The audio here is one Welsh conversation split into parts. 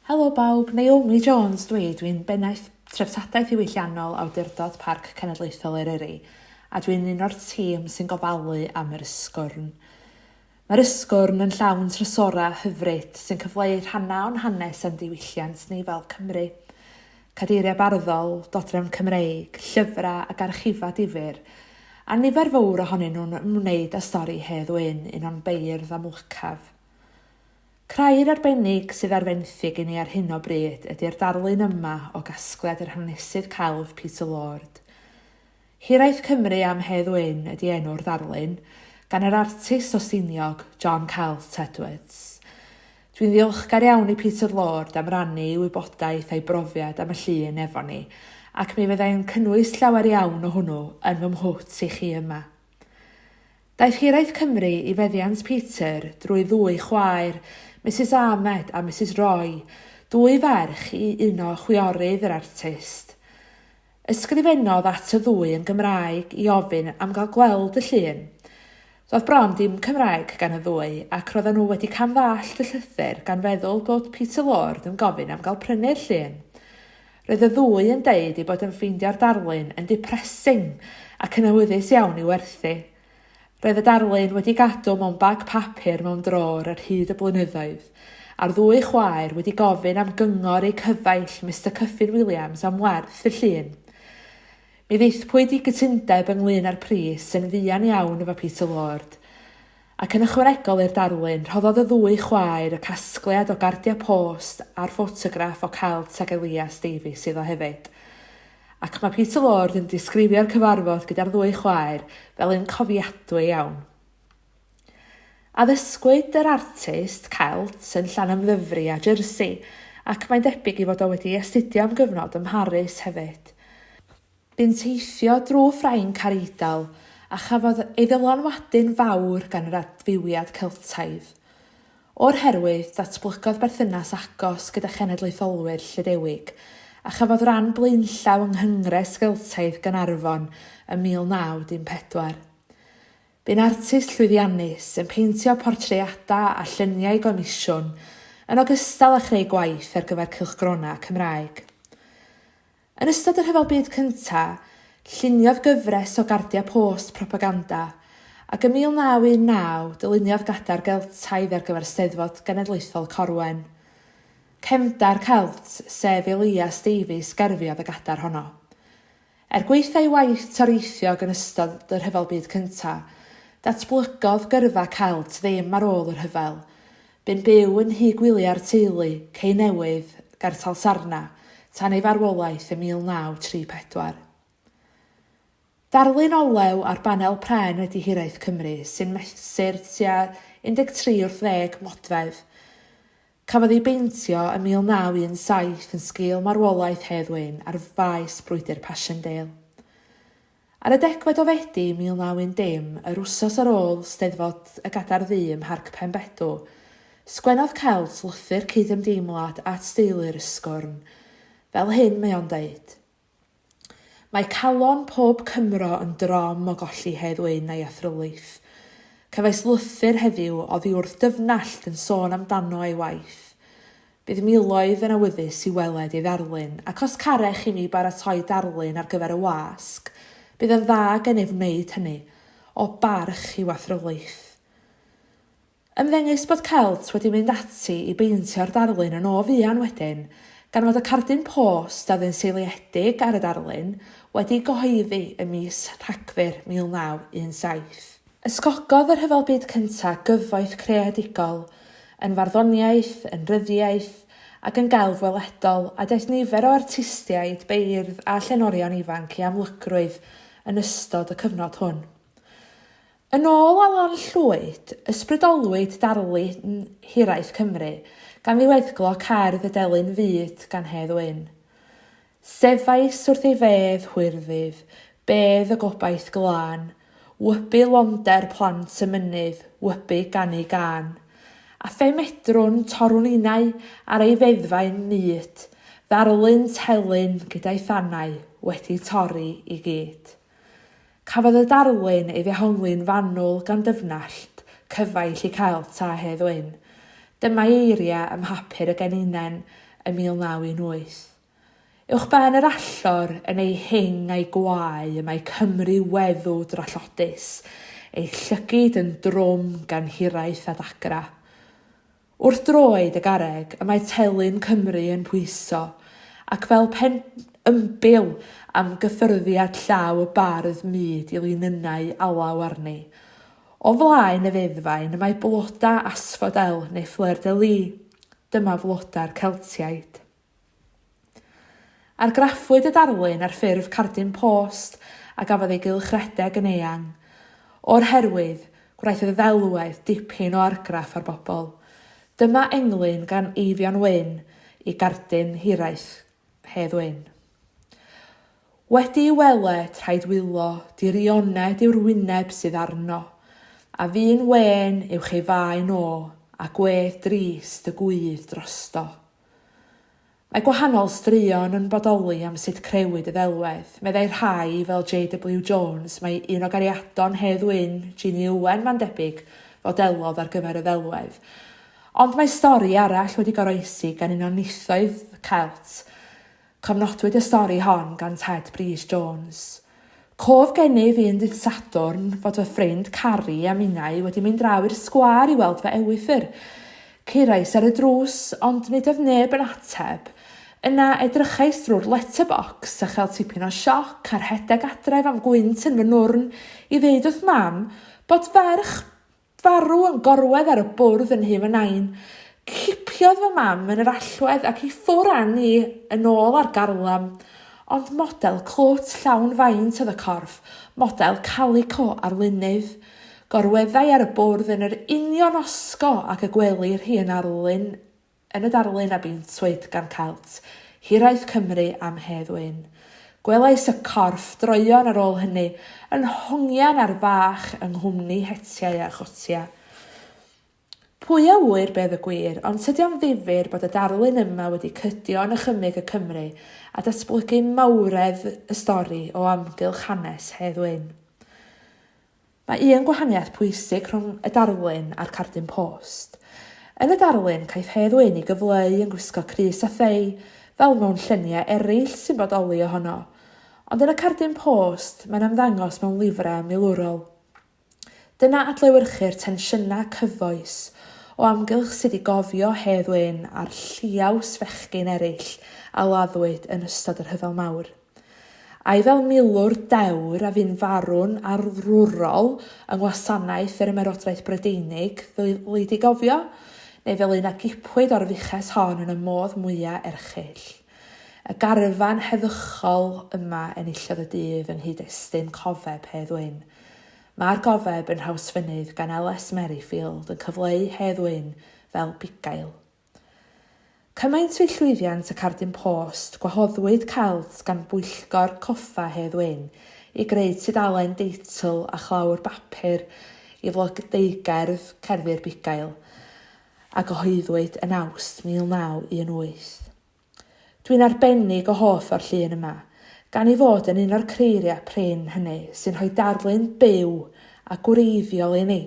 Helo bawb, Naomi Jones dwi, dwi'n Bennaeth Treftadaeth Ddiwylliannol Awdurdod Parc Cenedlaethol Eryri a dwi'n un o'r tîm sy'n gofalu am yr Ysgwrn. Mae'r Ysgwrn yn llawn trysorau hyfryd sy'n cyfleu rhannau o'n hanes a'n diwylliant ni fel Cymry. cadeiriau barddol, dodrefn Cymreig, llyfrau ac archifau difyr, a nifer fawr ohonyn nhw'n ymwneud â stori Hedd Wyn, un o'n beirdd amlycaf. Crair arbennig sydd ar fenthyg i ni ar hyn o bryd ydi'r darlun yma o gasgliad yr hanesydd celf Peter Lord. Hiraeth Cymru am Hedd Wyn ydi enw'r ddarlun, gan yr artist o Stiniog, John Celt Edwards. Dwi'n ddiolchgar iawn i Peter Lord am rannu ei wybodaeth a'i brofiad am y llun efo ni, ac mi fydda i'n cynnwys llawer iawn o hwnnw yn fy mhwt i chi yma. Daeth Hiraeth Cymru i feddiant Peter drwy ddwy chwaer, Misus Ahmed a Misus Roy, dwy ferch i uno chwiorydd yr artist. Ysgrifennodd at y ddwy yn Gymraeg i ofyn am gael gweld y llun. Doedd bron dim Cymraeg gan y ddwy ac roedden nhw wedi cam-ddallt y llythyr gan feddwl bod Peter Lord yn gofyn am gael prynu'r llun. Roedd y ddwy yn deud ei bod yn ffeindio'r darlun yn 'depressing' ac yn awyddus iawn i werthu. Roedd y darlun wedi gadw mewn bag papur mewn drôr ar hyd y blynyddoedd, a'r ddwy chwaer wedi gofyn am gyngor eu cyfaill Mister Cuffin Williams am werth y llun. Mi ddaethpwyd i gytundeb ynglŷn â'r pris yn fuan iawn efo Peter Lord. Ac yn ychwanegol i'r darlun, rhoddodd y ddwy chwaer y casgliad o gardiau post a'r ffotograff o Celt ag Elias Davies iddo hefyd. Ac mae Peter Lord yn disgrifio'r cyfarfod gyda'r ddwy chwaer fel un cofiadwy iawn. Addysgwyd yr artist Celt yn Llanymddyfri a Jersey ac mae'n debyg ei fod o wedi astudio am gyfnod ym Mharis hefyd. Bu'n teithio drwy Ffrainc a'r Eidal a chafodd ei ddylanwadu'n fawr gan yr adfywiad Celtaidd. O'r herwydd, datblygodd berthynas agos gyda chenedlaetholwyr Llydewig, a chafodd ran blaenllaw yng Nghwngres Geltaidd Gaernarfon ym 1914. Bu'n artist llwyddiannus, yn peintio portreadau a lluniau gomisiwn, yn ogystal â chreu gwaith ar gyfer cylchgronau Cymraeg. Yn ystod y Rhyfel Byd Cyntaf, lluniodd gyfres o gardiau post propaganda, ac ym 1919 dyluniodd Gadar Geltaidd ar gyfer Steddfod Genedlaethol Corwen. Cefndar Celt, sef Elias Davies, gerfiodd y gadar honno. Er gwaetha ei waith toreithiog yn ystod y Rhyfel Byd Cyntaf, datblygodd gyrfa Celt ddim ar ôl y rhyfel, Bu'n byw yn nhŷ gwyliau'r teulu, Cei Newydd, Gartal Sarna, tan ei farwolaeth ym 1934. Darlun olew ar banel pren wedi Hiraeth Cymru, sy'n mesur tua 13 wrth ddeg modfedd. Cafodd ei beintio ym 1917 yn sgil marwolaeth Hedd Wyn ar faes brwydr Passchendaele. Ar y degfed o Fedi 1910, yr wsos ar ôl Steddfod y Gadair Ddu ym Mharc Penbedw, sgwennodd Celt lythyr cyd-ymdeimlad at deulu yr Ysgwrn. Fel hyn mae o'n deud, Mae calon pob Cymro yn drom o golli Hedd Wyn a'i athrylith. Cefais lythyr heddiw oddiwrth dyfnallt yn sôn amdano a'i waith. Bydd miloedd yn awyddus i weled ei ddarlun, ac os carech chi mi baratoi darlun ar gyfer y wasg, bydd yn dda gennyf wneud hynny, o barch i'w athrylith. Ymddengys bod Celt wedi mynd ati i beintio'r darlun yn o fuan wedyn, gan fod y cardyn post a oedd yn seiliedig ar y darlun wedi ei gyhoeddi ym mis Rhagfyr 1917. Ysgogodd y Rhyfel Byd Cyntaf gyfoeth creadigol, yn farddoniaeth, yn ryddiaith, ac yn gelf weledol, a daeth nifer o artistiaid, beirdd a llenorion ifanc i amlygrwydd yn ystod y cyfnod hwn. Yn ôl Alun Llwyd, ysbrydolwyd darlun hiraeth Cymru gan ddiweddglo cerdd y Delyn Fud gan Hedd Wyn. Sefais wrth ei fedd hwyrddif, bedd y gobaith glân, wybu londer plant y mynydd, wybu gan ei gân. A phe medrwn, torrwn innau, ar ei feddfau'n mut, ddarlun telyn gyda'i thanau wedi torri i gyd. Cafodd y darlun ei ddehongli'n fanwl gan dyfnallt cyfaill i Celt Tae Hedd Wyn. Dyma'i eiriau ym mhapur y Geninen yn 1918. Uwchben yr allor, yn ei hing a'i gwae, y mae Cymru weddw drallodus, ei llygid yn drwm gan hiraeth a dagra. Wrth droed y garreg y mae Telyn Cymru yn pwyso, ac fel pen ymbil am gyffyrddiad llaw y bardd mud i linynnau alaw arni. O flaen y feddfaen y mae bloda asfodel neu fleur de lis. Dyma floda'r Celtiaid. Argraffwyd y darlun ar ffurf cardyn post a gafodd ei gylchredeg yn eang. O'r herwydd, gwnaeth y ddelwedd dipyn o argraff ar bobl. Dyma englyn gan Eifion Wyn i gardyn hiraeth Hedd Wyn. Wedi'i weled, rhaid wylo, dirioned yw'r wyneb sydd arno, a fu'n wên uwch ei faen o, a gwedd drist y gwydd drosto. Mae gwahanol straeon yn bodoli am sut crëwyd y ddelwedd. Meddai rhai, fel JW Jones, mai un o gariadon Hedd Wyn, Jeannie Owen, mae'n debyg, fodelodd ar gyfer y ddelwedd. Ond mae stori arall wedi goroesi gan un o nithoedd Celt, Cofnodwyd y stori hon gan Ted Brys Jones, Cof gennyf un dydd Sadwrn fod fy ffrind Carrie a minnau wedi mynd draw i'r sgwâr i weld fy ewythr. Curais ar y drws, ond nid oedd neb yn ateb. Yna edrychais drwy'r letterbox a chael tipyn o sioc a rhedeg adref am gwynt yn fy nwrn i ddeud wrth Mam bod ferch Farw yn gorwedd ar y bwrdd yn nhŷ fy nain. Cipiodd fy mam yn yr allwedd ac i ffwr a ni yn ôl ar garlam. Ond model clwt llawn faint oedd y corff, model calico arlunydd. Gorweddai ar y bwrdd yn yr union osgo ag y gwelir hi yn arlun Yn y darlun a beintiwyd gan Celt, Hiraeth Cymru am Hedd Wyn, gwelais y corff droeon ar ôl hynny yn hongian ar fach yng nghwmni hetiau a chotia. Pwy a ŵyr beth y gwir, ond tydi o'n ddifyr bod y darlun yma wedi cydio yn ychymyg y Cymry a datblygu mawredd y stori o amgylch hanes Hedd Wyn. Mae un gwahaniaeth pwysig rhwng y darlun a'r cardyn post. Yn y darlun, caiff Hedd Wyn ei gyfleu yn gwisgo crys a thei, fel mewn lluniau eraill sy'n bodoli ohono. Ond yn y cardyn post, mae'n ymddangos mewn lifrau milwrol. Dyna adlewyrchu'r tensiynau cyfoes o amgylch sut i gofio Hedd Wyn a'r lliaws fechgyn eraill a laddwyd yn ystod y Rhyfel Mawr. Ai fel milwr dewr a fu'n farw'n arwrol yng Ngwasanaeth yr Ymerodraeth Brydeinig ddylid ei gofio, neu fel un a gipwyd o'r fuches hon yn y modd mwya' erchyll? Y garfan heddychol yma enillodd y dydd yng nghyd-destun cofeb Hedd Wyn. Mae'r gofeb yn Nhrawsfynydd gan LS Merrifield yn cyfleu Hedd Wyn fel bugail. Cymaint oedd llwyddiant y cardyn post, gwahoddwyd Celts gan Bwyllgor Coffa Hedd Wyn i greu tudalen deitl a chlawr bapur i flodeugerdd Cerddi'r Bugail, a gyhoeddwyd yn Awst 1918. Dwi'n arbennig o hoff o'r llun yma, gan ei fod yn un o'r creiriau prin hynny sy'n rhoi darlun byw a gwreiddiol i ni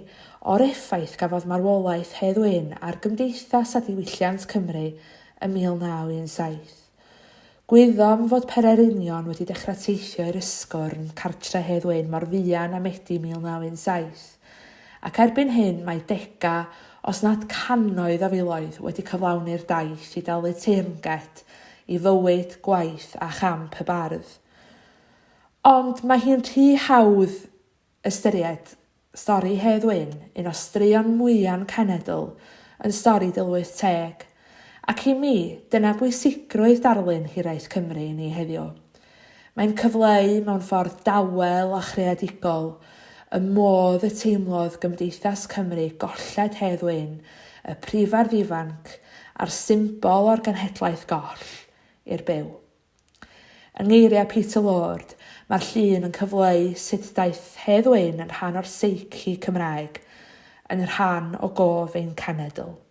o'r effaith gafodd marwolaeth Hedd Wyn ar gymdeithas a diwylliant Cymru ym 1917. Gwyddom fod pererinion wedi dechrau teithio i'r Ysgwrn, cartre Hedd Wyn, mor fuan â Medi 1917. Ac erbyn hyn mae degau, os nad cannoedd o filoedd wedi cyflawni'r daith i dalu teyrnged i fywyd, gwaith a champ y bardd. Ond mae hi'n rhy hawdd ystyried stori Hedd Wyn, un o straeon mwya'n cenedl, yn stori dilwyth teg. Ac i mi, dyna bwysigrwydd darlun Hiraeth Cymru i ni heddiw. Mae'n cyfleu mewn ffordd dawel a chreadigol y modd y teimlodd Gymdeithas Cymru golled Hedd Wyn, y prifardd ifanc a'r symbol o'r genhedlaeth goll, i'r byw. Yng ngeiriau Peter Lord, mae'r llun yn cyfleu sut daeth Hedd Wyn yn rhan o'r seici Cymraeg, yn rhan o gof ein cenedl.